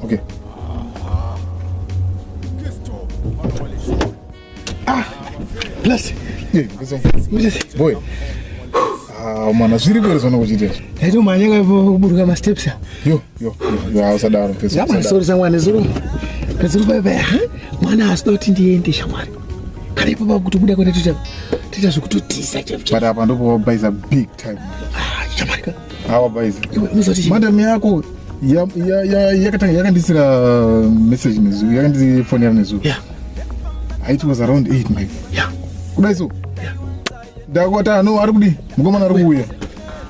Okay. Ah, plus. Yeah, boy. Ah, mwana zviri kwere zvona kuchiita izvo yaito manyaka kuburuka masteps yo yo yo usadaro yabanisori shamwani zuru pedzuru payapaya mwana asida kuti ndiende shamwari kana ipapo kuti kuda kwenda toita zvekutotisa chaicho but apa ndopo wabaisa big time ah, shamarika Awa guys. Madam yako ya ya ya yakatanga yakandisira uh, message nezu yakandi phone yaro nezu. Yeah. It was around 8 maybe. Yeah. Kudai so. Yeah. Dakwata no ari kudi. Mukomana ari kuuya.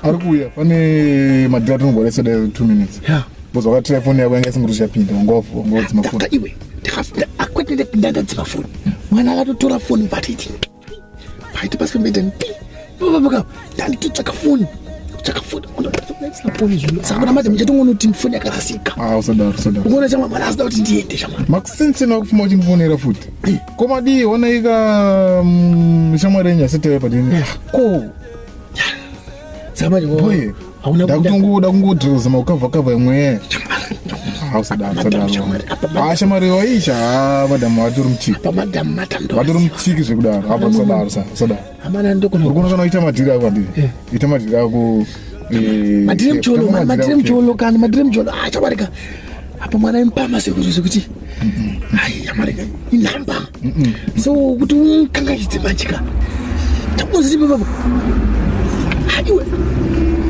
Ari kuuya. Pane madira tinogora sada 2 minutes. Yeah. Bozo wakatira phone yako yanga isinguri chapinda. Ngofu, ngofu dzimafoni. Iwe. Ndikafunda akwete ndapinda ndadzima phone. Mwana akatotora phone but it. paiti pasi pembedeni pavamuka ndanditotsvaka foni kutsvaka foni foni zvino saka kuna madzi muchatongoona kuti foni yakarasika ah, usadaro usadaro ukaona chamwa mwana asida kuti ndiende chamwa makusinsi nakufuma uchindifonera futi ko madii onaika mm, shamwari yenyu asitewe padini ko saka manje ndakutongoda kungodhiroza makukavha kavha imwe hausadaaashamari waisha madhamu vatori mutikivatori mutiki zvekudaro asadaro sadaro urikuona kana uita madhiri ako andii eh. ita madhiri ako eh, madhiri mcholo madhiri mcholo kana madhiri mcholo achabarika ah, apa mwana imupama sekuru zvekuti hai yamarega inhamba so kuti ukangaidze manjika takuziipapapo haiwe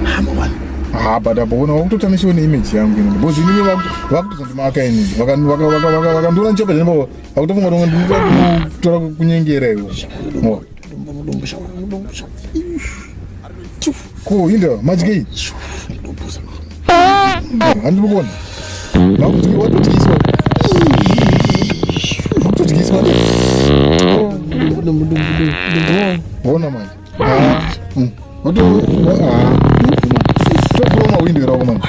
hama wani ha but apa ona wakutotamishiwa neimage yangu ini because inini vakutozondimaaka ini vakandiona nchoka zvinapa vakutofunga tonga ndinotora kunyengera iwo Ko Hilda, madyei? Handi mukona. Vakuti watodyiswa. Vakutodyiswa. Bona manje. Ah. Mm. Wato ah. Topoma window rako manje.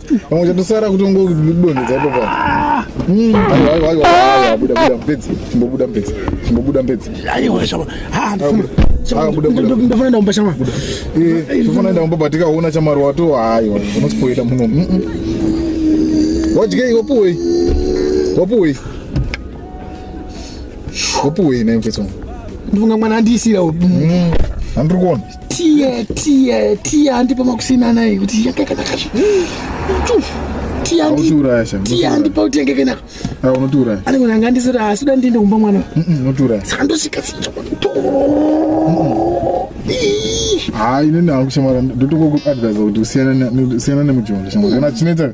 Vamwe chatosara kutongokudonhedza ipo pa. Mm. Aiwa aiwa aiwa aiwa buda buda mpedzi. Chimbobuda mpedzi. Chimbobuda mpedzi. Aiwa shama. Ha ndifuna. Shama buda buda. Ndifuna enda kumba shama. Eh, ndifuna enda kumba batika uona chamaro wato aiwa. Unospoila muno. Mm -mm. Wajike wapuwe. Wapuwe. Wapuwe na mfetso. Ndivunga mwana andisira. Mm. Andiri kuona. tiye tiye tiye andipa makusina naye kuti yakakanaka zve tiye andi- Unotiuraya sha. tiye andipa kuti yakakanaka Ah, unotiuraya. ane kuti anga andisira asi uda ndiende kumba mwana uyu. Mm, Unotiuraya. saka ndosvika sija Haa inini hangu shamwari ndotongokuadvisa kuti usiyane ne- usiyane nemujondo shamwari. Kana chinetsa